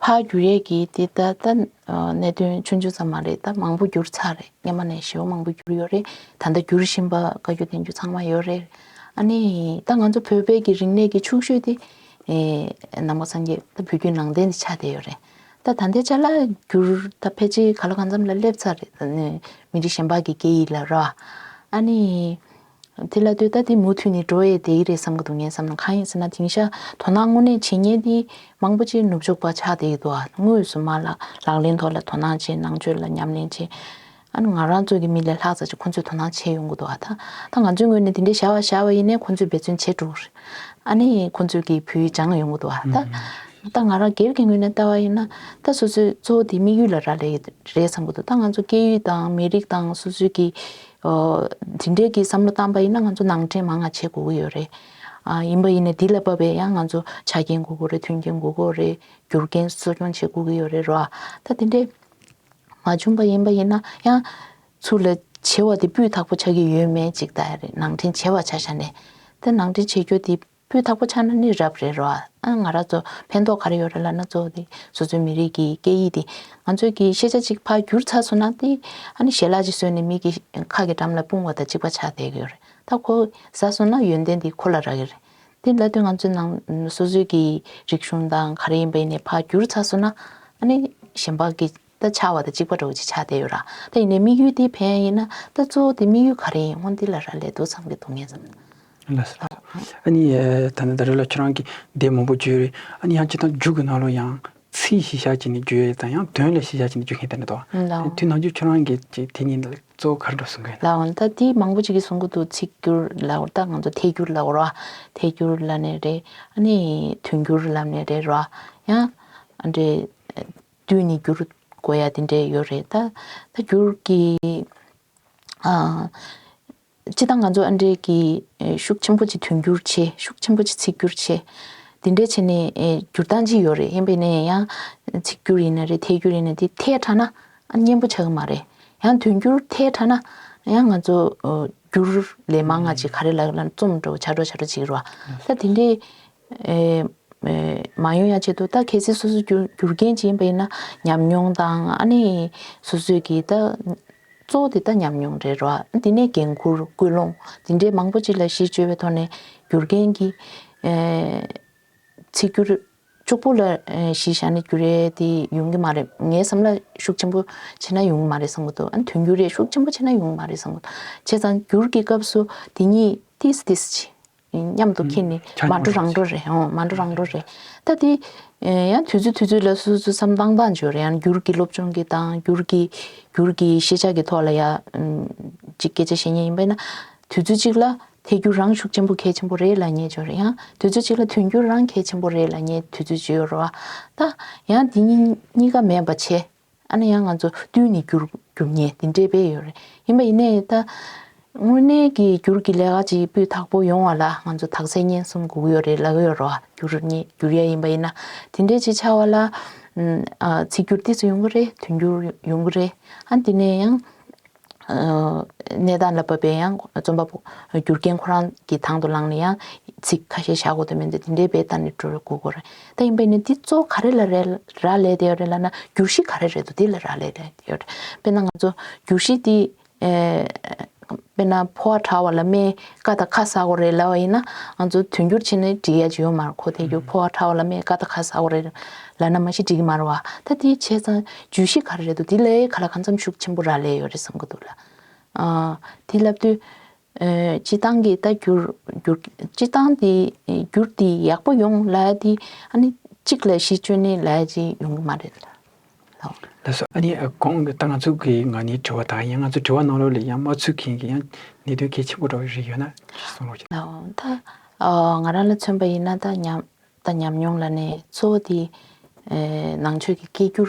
ཕ་གུ་རེ་གི་དེ་ད་ལྟ་གནད་དོན་ཆུང་ཆུང་ཙམ་མ་རེད་ད་མང་པོ་འགྱུར་ཚར་རེད་སྙེ་མ་ནས་ཞེ་བོ་མང་པོ་འགྱུར་ཡོད་རེད་ད་ལྟ་འགྱུར་བཞིན་པ་བཀའ་རྒྱུ་བསྟན་རྒྱུ་ཚང་མ་ཡོད་རེད་ཨ་ནི་ད་ང་ཚོ་བོད་པའི་གི་རིག་གནས་ཀྱི་ཕྱུག་ཤོས་དེ་ནང་པ་སངས་རྒྱས་ད་བོད་རྒྱུད་ནང་བསྟན་དེ་ཆགས་བསྡད་ཡོད་རེད་ད་ད་ལྟའི་ཆ་ལ་འགྱུར་ད་ཕལ་ཆེར་ག་ལ་གང་འཚམ་ལ་སླེབས་ཚར་རེད་མི་རིགས་གཞན་པ་གི་སྐད་ཡིག་ལ་ར་བ་ཨ་ནི། དེ་ལ་དུས་ད་དེ་མུ་མཐུད་ནས་འགྲོ་ཡས་དེ་ཡི་རེད་བསམ་གི་འདུག་ངས་བསམ་ན་གང་ཡིན་ཟེར་ན་དེང་ཤར་དོ་སྣང་དངོས་གནས་བྱེད་ཉེན་དེ་མང་པོ་ཅིག་ནུབ་ཕྱོགས་པ་ཆགས་བསྡད་ཀྱི་འདུག་ཨ་དངོས་སུ་མ་ལགས་ལག་ལེན་ཐོག་ལ་དོ་སྣང་བྱེད་ནང་ཆོས་ལ་ཉམས་ལེན་བྱེད་ཨ་ནི་ང་རང་ཚོ་གི་མི་ལས་ལྷག་ཙག་ཅིག་ཁོང་ཚོས་དོ་སྣང་བྱེད་ཡོང་གི་འདུག་ཨ་ད་ད་ང་ཚོའི་ངོས་ནས་དེ་འདྲའི་བྱ་བ་བཞག་པ་ཡིན་ནས་ཁོང་ཚོས་འབད་བརྩོན་བྱེད་འགྲོ་ཨ་ནི་ཁོང་ཚོས་ཀྱི་བུའི་སྦྱངས་ཡོང་གི་འདུག་ཨ་ད་ད་ང་རང་སྒེར་གྱི་ངོས་ནས་ལྟ་བ་ཡིན་ན་ད་སོ་སོས་གཙོ་བོ་དེ་དམིགས་ཡུལ་ལ་རག་ལས་ཀྱི་རེད་བསམ་གྱི་འདུག་ད་ང་ཚོ་སྐད་ཡིག་དང་མི་རིགས་དང་སོ་སོའི་གི་འདི་འདྲའི་གི་བསམ་བློ་བཏང་པ་ཡིན་ན་ང་ཚོ་ནང་འདྲེན་མང་ང་བྱེད་དགོས་ཀྱི་ཡོད་རེད། ཡིན་པ་ཡིན་ནས་འདི་ལ་བབ་པའི་ཡང་ང་ཚོ་ཆ་རྐྱེན་དགོས་ཀྱི་རེད་མཐུན་རྐྱེན་དགོས་ཀྱི་རེད་རྒྱུ་རྐྱེན་གསོ་སྐྱོང་བྱེད་དགོས་ཀྱི་ཡོད་རེད་རོ། ད་འདི་འདྲའི་མ་བྱུང་པ་ཡིན་པ་ཡིན་ན་ཡང། ཚུར་ལ་བྱེད་བ་དེ་སྤུས་དག་པོ་ཆགས་ཀྱི་ཡོད་མེད་ཅིག་ལྟ་ཡ་རེད་ནང་འདྲེན་བྱེད་བ་ཆ་ཤ་ནས། ད་ནང་འདྲེན་བྱེད་རྒྱུ་དེ་སྤུས་དག་པོ་ཆགས་ན་ནི་རབ་རེད་རོ། ཨ་ང་ར་ཚོ་ཕན་ཐོག་ག་རེ་ཡོད་རེད་ལ་ན་གཙོ་བོ་དེ་སོ་སོའི་མི་རིགས་ཀྱི་སྐད་ཡིག་དེ་ང་ཚོས་ཀྱི་ཤེས་བྱ་ཅིག་ཕར་འགྱུར་ཚར་སོང་ན་དེ་ཨ་ནི་ཞལ་ལག་ཅིག་གསོས་ནས་མིག་གི་ཁ་གི་འགྲམ་ལ་སྤུངས་བ་དང་གཅིག་པ་ཆགས་བསྡད་ཀྱི་ཡོད་རེད་ད་ཁོ་ཟ་སོང་ན་ཡོན་ཏན་དེ་ཁོ་ལ་རག་གི་རེད་དེ་ལ་དུས་ང་ཚོའི་ནང་སོ་སོའི་ཀྱི་རིག་གཞུང་དང་ག་རེ་ཡིན་པ་ཡིན་ནས་ཕར་འགྱུར་ཚར་སོང་ན་ཨ་ནི་ཞེན་པ་གི་ད་ཆ་བ་ད་གཅིག་པ་འགྲོ་ཅི་ཆ་བསྡད་ཡོད་ར་ད་ཡིན་ནའི་དམིགས་ཡུལ་དེ་ཕན་ཡིན་ན་ད་གཙོ་བོ་དེ་དམིགས་ཡུལ་ག་རེ་ཡིན་སྔོན་འདི་ལ་ར་ལས་དུ་ཚང་གི་སྡུག་བསྔལ་ཙམ། ལ་སོ། ཨ་ནི་ད་ནི་ད་རེ་ལ་ཁྱོད་རང་གིས་བདེ་མང་པོ་བརྗོད་རེད་ཨ་ནི་ཡང་སྤྱིར་བཏང་རྒྱུགས་ཀྱི་ནང་ལོ་ཡང་ཚིག་གཞི་བཞག་ཅིག་ནས་བརྗོད་ཡོད་ཙང་ཡང་དོན་ལ་གཞི་བཞག་ཅིག་ནས་བརྗོད་མཁན་དེ་འདྲ་འདུག་ཨ་དེ་དུས་ནང་ཆོས་ཁྱོད་རང་གིས་ཅིག་དེ་གཉིས་ལ་གཙོ་བོ་ག་རེ་འགྲོ་གསུང་གི་ཡོད་ན། ལ་ད་དེ་མང་པོ་ཅིག་གིས་གསུང་གི་འདུག་ཚིག་སྒྱུར་ལ་ད་ང་ཚོ་ཐད་སྒྱུར་ལ་རོགས་ཐད་སྒྱུར་ལ་ནས་རེད་ཨ་ནི་དོན་སྒྱུར་ལ་ནས་རེད་རོགས་ཡང་འདྲེ། དུས་ནི་འགྱུར། དགོས་ཡ་དེ་འདྲས་ཡོད་རེད་ད། ད་འགྱུར་གི། སྤྱི་བཏང་ང་ཚོ་ཨ་འབྲས་ཀྱི། ཤུགས་ཆེན་པོ་ཆེ་དུས་འགྱུར་ཆེ་ཤུགས་ཆེན་པོ་ཆེ་ཚིག་འགྱུར་ཆེ། དེ་འདྲས་བྱས་ནས་འགྱུར་སྟངས་ཅི་ཡོད་རེད་ཧན་པས་ནས་ཡང། ཚིག་འགྱུར་ཡིན་ན་རེད་ཐད་འགྱུར་ཡིན་ན་དེ་ཐད་དྲགས་ན། སྙན་པོ་ཆགས་གི་མ་རེད། ཡང་དུས་འགྱུར་ཐད་དྲགས་ན། ཡང་ང་ཚོ། འགྱུར་ལས་མང་ང་ཅིག་ག་རེ་ལ་ལ་རྩོམ་འགྲོ་བྱ་འགྲོ་བྱ་འགྲོ་བྱེད་ཀྱི་རོ། ད་དེ་འདྲས། མ་ཡོང་ཡ་བྱེད་འདུག་ད་གལ་སྲིད་སོ་སོ་རྒྱུ་རྐྱེན་ཅིག་ཡིན་པ་ཡིན་ན་ཉམས་མྱོང་དང་ཨ་ནི་སོ་སོས་ཀྱི་ད་གཙོ་བོ་དེ་ད་ཉམས་མྱོང་རེད་རོ་དེ་ནས་འགན་འཁུར་སྐུལ་སློང་དེ་འདྲའི་མང་པོ་ཅིག་ལ་གཞི་བཅོལ་བའི་ཐོག་ནས་རྒྱུ་རྐྱེན་གྱི་ཚིག་སྒྱུར་ཅུག་པོ་ལ་གཞི་བཞག་ནས་རྒྱུ་རེ་དེ་ཡོང་གི་མ་རེད་ངའི་བསམ་བློ་ཤུགས་ཆེན་པོ་ཆེ་ན་ཡོང་གི་མ་རེད་བསམ་གྱི་འདུག་ཨ་ནི་དོན་འགྱུར་རེ་ཤུགས་ཆེན་པོ་ཆེ་ན་ཡོང་གི་མ་རེད་བསམ་གྱི་འདུག་བྱས་ཙང་འགྱུར་གྱི་སྐབས་སུ་དེ་གཉིས་ཏིས་ཏིས་བྱེད། མཉམ་དུ་ཁྱེད་ནི་མ་འགྲོ་རང་འགྲོ་རེད་འོང་མ་འགྲོ་རང་འགྲོ་རེད་ད་དེ། ཡང་དུས་ཚོད་དུས་ཚོད་ལ་སུ་སུ་འཚམ་སྟངས་སྟངས་འཇོག་རེད་ཡང་འགྱུར་གྱི་སློབ་སྦྱོང་གི་སྟངས་འགྱུར་གྱི་འགྱུར་གྱི་ཤེས་བྱ་གི་ཐོག་ལ་ཡ། གཅིག་སྐད་ཆ་བཤད་ཉེན་ཡིན་པས་ན། དུས་ཚོད་གཅིག་ལ་ཐལ་འགྱུར་རང་ཤུགས་ཆེན་པོ་གལ་ཆེན་པོ་རེད་ལ་ངས་འཇོག་རེད་ཡང་དུས་ཚོད་གཅིག་ལ་དུས་འགྱུར་རང་གལ་ཆེན་པོ་རེད་ལ་ངས་དུས་ཚོད་འཇོག་རེད་བ། ད་ཡང་དེ་གཉིས་གཉིས་ཀ་མེད་པ་ཆེ་ཨ་ན་ཡང་ང་ཚོ་བསྟུན་ནས་བསྒྱུར་རྒྱུ་ངེས་དེ་འདྲའི་བས་ཡོད་རེད་ཡིན་པ་ཡིན་ནའི་ད་དངོས་གནས་ཀྱི་བསྒྱུར་གྱི་ལས་ཀ་ཅིག་སྤུས་དག་པོ་ཡོང་བ་ལ་ང་ཚོ་དག་ཚད་སྙན་སུམ་སྒུག་ཡོད་རེད་ལབ་ཡོད་རོ་བསྒྱུར་ངེས་བསྒྱུར་ཡ་ཡིན་པ་ཡིན་ན་དེ་འདྲའི་ཅིག་ཆགས་བ་ལ་ཚིག་སྒྱུར་དེ་ཚོ་ཡོང་གི་རེད་དོན་སྒྱུར་ཡོང་གི་རེད་ཨ་དེ་ནས་ཡང། གནས་སྟངས་ལ་བབས་པས་ཡང་རྩོམ་པ་པོ་རྒྱུ་རྐྱེན་ཁོ་རང་གི་དང་དུ་བླངས་ནས་ཡང་ཚིག་ཁ་ཤས་བཞག་གོ་དེ་མིན་དུ་དེ་འདྲའི་བེད་ལྟ་ནས་འགྲོ་རུ་སྒུག་གོ་རེད་ད་ཡིན་པས་ནི་འདི་གཙོ་བོ་ག་རེ་ལ་རག་ལས་དེ་ཡོད་རེད་ལབ་ན་བསྒྱུར་གཞི་ག་རེ་རེད་དོ་དེ་ལ་རག་ལས་དེ་ཡོད་རེད་དཔེར་ན་ང་ཚོ་བསྒྱུར་གཞི་དེ་དཔེར་ན་ཕོ་བ་དྲ་བ་ལ་སྨྲེ་ཀ་དང་ཁ་ཟ་གོ་རེད་ལབ་པ་ཡིན་ན་ང་ཚོ་དོན་བསྒྱུར་བྱས་ནས་འབྲི་ཡ་ཇི་ཡོད་མ་རེད་ཁོ་ཐལ་རྒྱུ་ཕོ་བ་དྲ་བ་ལ་སྨྲེ་ཀ་དང་ཁ་ཟ་གོ་རེད་ལབ་ན་མ་གཞི་འགྲིག་གི་མ་རེད་བ་ད་དེ་བྱས་ཙང་བརྗོད་གཞི་ག་རེ་རེད་འདུག་དེ་ལས་ག་ལ་གང་འཚམས་ཤུགས་ཆེན་པོ་རག་ལས་ཡོད་རེད་བསམ་གྱི་འདུག་ལ། དེ་ལབ་དུས། སྤྱི་བཏང་གི་ལྟ་རྒྱུར། སྤྱི་བཏང་དེ་བསྒྱུར་དེ་ཡག་པོ་ཡོང་ལ་དེ། ཨ་ནི་གཅིག་ལས་བཞི་སྤྱོད་ནི་ལས་ཀྱི་ཡོང་གི་མ་རེད་ལ། ལགས། ལགས་སོ་ཨ་ནི་གོང་ད་ང་ཚོ་གི་ང་ནི་དྲི་བ་དང་ཡང་ང་ཚོ་དྲི་བ་གནང་རོགས་ལས་ཡང་མ་ཚུགས་མཁན་གྱི་ཡང་གནད་དོན་གལ་ཆེན་པོ་རོགས་རིགས་ཡོད་ན་གསུངས་རོགས། ལགས། ད་ང་རང་ལ་མཚོན་པ་ཡིན་ན་ད་ཉམས། དང་ཉམས་མྱོང་ལ་ནི་གཙོ་བོ་དེ། ནང་ཆོས་ཀྱི་སྐད་བསྒྱུར་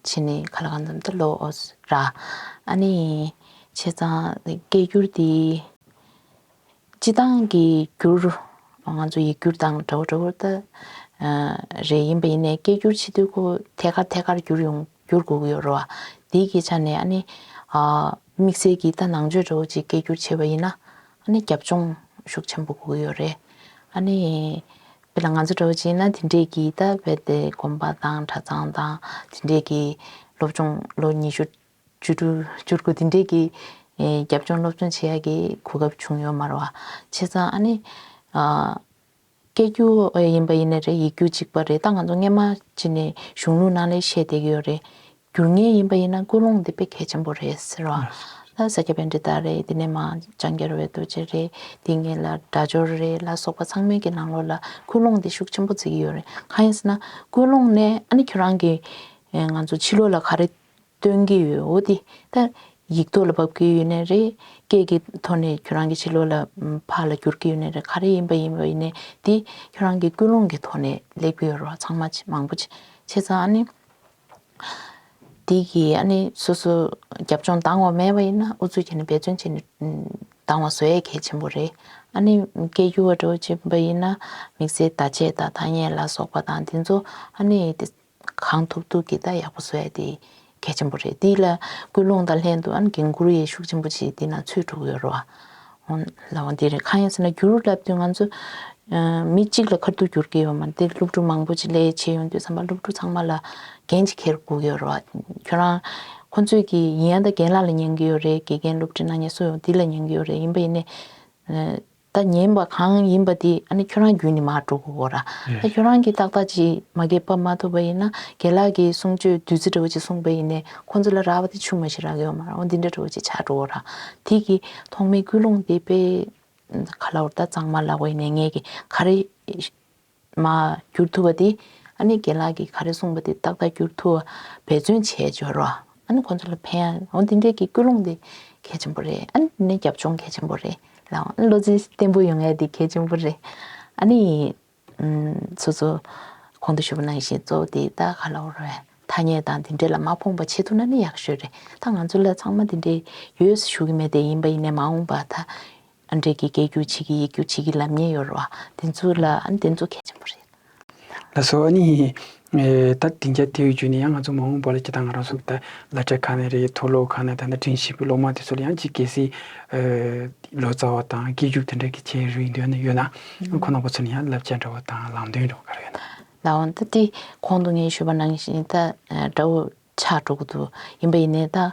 བྱས་ནས་ཁ་ལ་གང་འཚམ་དུ་ལོག་འོས་ར། ཨ་ནི། བྱས་ཙང་སྐད་བསྒྱུར་དེ། སྤྱི་བཏང་གི་བསྒྱུར། ང་ཚོ་ཡིག་བསྒྱུར་དང་འདྲ་བོ་འདྲ་བོ་ལྟ། རེ་ཡིན་པ་ཡིན་ནའི་སྐད་བསྒྱུར་ཕྱི་དུས་ཁོ་ཐད་ཀར་ཐད་ཀར་བསྒྱུར་ཡོང་བསྒྱུར་དགོས་ཀྱི་ཡོད་རེད་བ། དེའི་ཆ་ནས་ཨ་ནི། དམིགས་བསལ་གྱིས་ད་ནང་ཆོས་འདྲ་བོ་ཅིག་སྐད་བསྒྱུར་བྱས་པ་ཡིན་ན། ཨ་ནེ་རྒྱབ་ལྗོངས་ཤུགས་ཆེན་པོ་དགོས་ཡོད་རེད། ཨ་ནེ། དཔེ་ལ་ང་ཚོ་འདྲ་བོ་བྱས་ན་དེ་འདྲས་ཀྱིས་ད་རྦད་དེ་དགོན་པ་དང་གྲྭ་ཚང་དང་དེ་འདྲས་ཀྱིས་སློབ་སྦྱོང་ལོ་ཉི་ཤུ་བཅུ་དྲུག་བཅུ་དགུ་དེ་འདྲས་ཀྱིས་རྒྱབ་ལྗོངས་སློབ་སྦྱོང་བྱེད་ཡག་གི་གོ་སྐབས་བྱུང་ཡོད་མ་རེད་བ། བྱས་ཙང་ཨ་ནེ། སྐད་རྒྱུ་བས་ཡིན་པ་ཡིན་ནི་རེད་ཡིག་རྒྱུ་གཅིག་པ་རེད་ད་ང་ཚོ་སྔས་མ་སྤྱི་ནས་གཞུང་ལུགས་ནང་ལས་བཤད་བསྡད་ཀྱི་ཡོད་རེད། འགྱུར་ངེས་ཡིན་པ་ཡིན་ན་ཀུན་སློང་འདི་དཔེ་གལ་ཆེན་པོ་རེད་ཟེར་བ། ལ་ས་སྐྱ་པའི་འདྲི་རྟགས་རེད་འདི་ནས་མ་ལྕང་སྐྱ་རོལ་བའི་རྡོ་རྗེ་རེད་འདི་ངེད་ལ་སྒྲ་སྦྱོར་རེད་ལ་སོགས་པ་ཚང་མའི་གི་ནང་ལོགས་ལ་ཀུན་སློང་འདི་ཤུགས་ཆེན་པོ་བརྩི་གི་ཡོད་རེད་གང་ཡིན་ཟེར་ན་ཀུན་སློང་ནས་ཨ་ནི་ཁྱོད་རང་གི་ང་ཚོ་ཕྱི་ལོགས་ལ་ག་རེ་སྟོན་གྱི་ཡོད་འོ་དེ་ད་ཡིག་ཐོག་ལ་འབབ་ཀྱི་ཡོད་ནི་རེད། སྐད་ཀྱི་ཐོག་ནས་ཁྱོད་རང་གི་ཕྱི་ལོག་ལ་ཕར་ལ་འགྱུར་གྱི་ཡོད་ནི་རེད་ག་རེ་ཡིན་པ་ཡིན་པ་ཡིན་ནི་དེ་ཁྱོད་རང་གི་ཀུན་སློང་གི་ཐོག་ནས་ལེགས་པའི་རོགས་ཚང་མ་མང་པོ་ཆེ་ཚང་ཨ་ནི། དེ་གི་ཨ་ནི་སོ་སོ་རྒྱབ་ལྗོངས་དྭངས་བ་མེད་པ་ཡིན་ན་ཨུ་ཚུགས་བྱས་ནས་འབད་བརྩོན་བྱས་ནས་དྭངས་བ་བཟོ་ཡས་གལ་ཆེན་པོ་རེད་ཨ་ནི་སྐད་སྒྱུར་བ་འགྲོ་བ་བྱས་པ་ཡིན་ན་དམིགས་བསལ་བརྡ་ཆད་དང་ཐ་སྙད་ལ་སོགས་པ་དང་དེ་ཚོ་ཨ་ནི། གང་ཐུབ་ཐུབ་ཀྱིས་བརྡ་ཡག་པོ་བཟོ་ཡ་དེ་གལ་ཆེན་པོ་རེད་དེ་ལ་སྐུལ་སློང་དང་ལྷན་དུ་ཨང་གིང་གུར་ཡེ་ཤུགས་ཆེན་པོ་བྱེད་དེ་ན་ཚོད་དྲུག་ཡོད་རོ། ལ་བ་འདི་རེད་གང་ཡིན་ཟེར་ན་བསྒྱུར་བསླབ་དུས་ང་ཚོ་མི་གཅིག་ལ་ཁར་དུ་བསྒྱུར་གྱི་ཡོད་མ་འདི་སློབ་ཕྲུག་མང་པོ་ཅིག་ལས་བྱེད་ཡོང་དུས་བསམ་པ་སློབ་ཕྲུག་ཚང་མ་ལ་འགན་ཅིག་འཁྱེར་དགོས་ཡོད་རོ། ཁྱོད་རང་ཁོ་ཚོས་ཀྱི་ཡིན་ཡང་ད་རྒན་ལགས་ལ་ཉན་གྱི་ཡོད་རེད་དགེ་རྒན་སློབ་ཁྲིད་ནང་ཉེ་གསོ་ཡོང་དེ་ལ་ཉན་གྱི་ཡོད་རེད་ཡིན་པ་ཡིན་ནས། ད་ཉན་པ་གང་ཡིན་པ་དེ་ཨ་ནི་ཁྱོད་རང་རྒྱུད་ནས་མར་འགྲོ་གི་འོ་ར། ད་ཁྱོད་རང་གིས་ཏག་ཏག་ཅིག་མ་རྒད་པ་མ་ཐུབ་པ་ཡིན་ན་རྒན་ལགས་ཀྱིས་གསུང་ཆོས་བདུད་རྩི་འདྲ་བོ་ཅིག་གསུངས་པ་ཡིན་ནས་ཁོང་ཚོ་ལ་རག་པ་དེ་ཆུ་མ་ཞིག་རག་གི་ཡོད་མ་རང་འོ་འདི་འདྲ་འདྲ་བོ་ཅིག་བྱ་འགྲོ་འོ་ར། དེ་གི་ཐོག་མའི་ཀུན་སློང་དེ་དཔེ། ག་ལ་འོ་ད་གཙང་མ་ལ་བས་ནས་ངས་ཀྱི་ག་རེ། མ། བསྒྱུར་ཐུབ་པ་དེ། ཨ་ནེ་དགེ་ལགས་ཀྱིས་ག་རེ་གསུངས་པ་དེ་ཏག་ཏག་བསྒྱུར་ཐུབ་པ་འབད་བརྩོན་བྱས་སྦྱོར་རོགས། ཨ་ནེ་ཁོང་ཚོ་ལ་ཕན་ཡ། འོ་འདི་འདྲའི་གི་སྐུལ་སློང་དེ་གལ་ཆེན་པོ་རེད། ཨ་ནེ་འདི་འདྲའི་རྒྱབ་ལྗོངས་གལ་ཆེན་པོ་རེད། ལའོ། ཨ་ནེ་བློ་རྩེ་བརྟན་པོ་ཡོང་ཡ་དེ་གལ་ཆེན་པོ་རེད། ཨ་ནེ། ཚོ་ཚོ། གོང་དུ་ཞུ་བ་ནང་བཞིན་གཙོ་བོ་དེ་ད་ག་ལ་འོ་རེད། ཐ་སྙད་དང་འདི་འདྲའི་ལ་མ་ཕོངས་པ་བྱེད་ཐུབ་ན་ནི་ཡག་ཤོས་རེད། ད་ང་ཚོ་ལ་ཚང་མ་འདི་འདྲའི་ཡོད་ཞུ་གི་མེད་དེ་ཡིན་པ་ཡིན་ནས་མ་འོངས་པ་ད། ཨ་འབྲས་ཀྱི་སྐད་སྒྱུར་བྱེད་ཀྱི་ཡིག་སྒྱུར་བྱེད་ཀྱི་ལམ་ཉེན་ཡོད་རེད་བ། དེ་ཚོ་ལ་དེ་ཚོ་གལ་ཆེན་པོ་རེད། ལ་སོགས་ཨ་ནི། ད་ལྟའི་རྒྱ་དེའི་བརྒྱུད་ནས་ཡང་ང་ཚོ་མ་འོངས་པ་ལ་སྤྱི་དང་ང་རང་སོགས་ད་ལ་གྲས་ཁ་ནས་རེད་མཐོ་སློབ་ཁ་ནས་ད་ལྟ་དྲན་ཤེས་པའི་སློབ་མ་དེ་ཚོ་ལ་ཡང་སྤྱི་གལ་སྲིད། ལོ་ཙཱ་བ་དང་སྐད་སྒྱུར་དེ་འདྲ་གི་བྱེད་རིན་དོན་ནི་ཡོད་ན། ཁོ་ནང་པ་ཚོ་ནི་ཡང་བསླབ་བྱ་འདྲ་བ་དང་ལམ་སྟོན་འདྲ་བ་ག་རེ་ཡོད་ན། ལ་འོང་ད་ལྟའི་གོང་དུ་ངས་ཞུས་པ་ནང་བཞིན་ད་དགྲ་བོ་ཆ་དྲུག་ཏུ་ཡིན་པ་ཡིན་ནས་ད།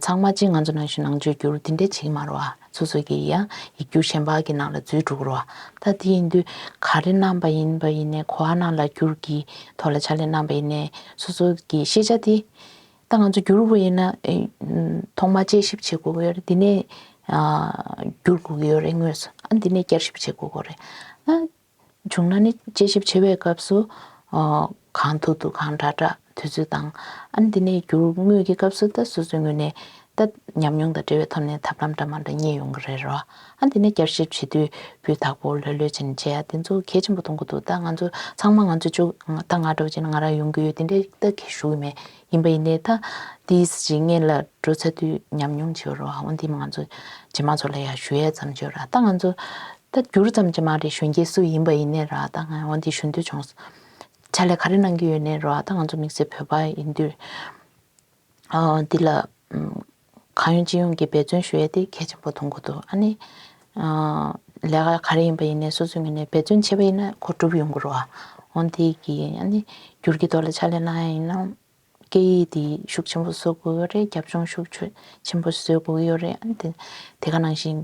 ཚང་མ་ཅིག་ང་ཚོ་ནང་བཞིན་ནང་བཅོས་བསྒྱུར་འདི་འདྲས་བྱེད་ཀྱི་མ་རོ། སོ་སོ་ཀྱི་ཡང་ཡིག་རྒྱུགས་གཞན་པ་གི་ནང་ལ་འཛུལ་འགྲོ་གི་རོ། ད་དེ་ཡིན་དུས་ག་རེ་གནང་པ་ཡིན་པ་ཡིན་ནས་གོ་བ་ནང་ལ་བསྒྱུར་གྱི་ཐོག་ལ་ཕྱག་ལས་གནང་པ་ཡིན་ནས་སོ་སོ་ཀྱི་ཤེས་བྱ་དེ། ད་ང་ཚོ་བསྒྱུར་དགོས་ཡིན་ན། ཐོག་མ་དཔྱད་ཞིབ་བྱེད་དགོས་ཀྱི་ཡོད་རེད་འདི་ནས། བསྒྱུར་དགོས་ཀྱི་ཡོད་རེད་དངོས་སུ་ཨ་འདི་ནས་བསྐྱར་ཞིབ་བྱེད་དགོས་ཀྱི་རེད། བྱུང་ན་ནི་དཔྱད་ཞིབ་བྱེད་པའི་སྐབས་སུ། གང་ཐུག་ཐུག་གང་འདྲ་འདྲ་དུས་ཚོད་དང། དེ་ནས་བསྒྱུར་དངོས་ཀྱི་སྐབས་སུ་ད་སོ་སོའི་ངོས་ནས་ད། ཉམས་མྱོང་དང་འབྲེལ་བའི་ཐོག་ནས་ཐབས་ལམ་འདྲ་མ་འདྲ་རྙེད་ཡོང་གི་རེད། དེ་ནས་བསྐྱར་ཞིབ་བྱེད་དུས་སྤུས་དག་པོ་ལྷོད་ལྷོད་ཅན་བྱས་ཡ་དེ་ཚོ་གལ་ཆེན་པོ་མཐོང་གི་འདུག་ད་ང་ཚོ་ཚང་མ་ང་ཚོ་བཅུག་ད་ང་འགྲོ་བྱས་ན་ང་རང་ཡོང་གི་ཡོད་དེ་འདྲའི་ད་གལ་ཞུ་གི་མེད། ཡིན་པ་ཡིན་ནའི། དེའི་རྗེས་ངེད་ལ་འགྲོ་ཚར་དུས་ཉམས་མྱོང་ཆེ་བ་རུ་ཨང། དེ་མིན་ང་ཚོ་རྗེས་མ་ཚོ་ལ་ཡང་ཞུ་ཡས་ཙམ་བརྗོད་ར་ད་ང་ཚོ། ད་བསྒྱུར་ཙམ་གྱི་མ་རེད་གཞོན་སྐྱེས་སུ་ཡིན་པ་ཡིན་ནའི་ར་ད་ང་འོན་ཏེ་ཞུ་འདོད་བྱུང་ཟེར། ཕྱག་ལས་ག་རེ་གནང་གི་ཡོད་ནའི་ར་ད་ང་ཚོ་དམིགས་བསལ་བོད་པ་ཡིན་དུས། འདི་ལ། གང་ཡོང་ཅི་ཡོང་གི་འབད་བརྩོན་ཞུ་ཡ་དེ་གལ་ཆེན་པོ་འཐོང་གི་འདུག་ཨ་ནི། ལས་ཀ་ག་རེ་ཡིན་པ་ཡིན་ནའི་སོ་སོའི་ངོས་ནས་འབད་བརྩོན་བྱས་པ་ཡིན་ན་གོ་གྲུབ་ཡོང་གི་རོ། འོན་ཏེ་གི་ཨ་ནི་འགྱུར་གྱི་ཐོག་ལ་ཕྱག་ལས་གནང་ཡ་ཡིན་ན། སྐད་ཡིག་དེ་ཤུགས་ཆེན་པོ་བཟོ་དགོས་ཡོད་རེད་རྒྱབ་ལྗོངས་ཤུགས་ཆེན་པོ་བཟོས་དགོས་ཡོད་རེད་དེ་ག་ནང་བཞིན།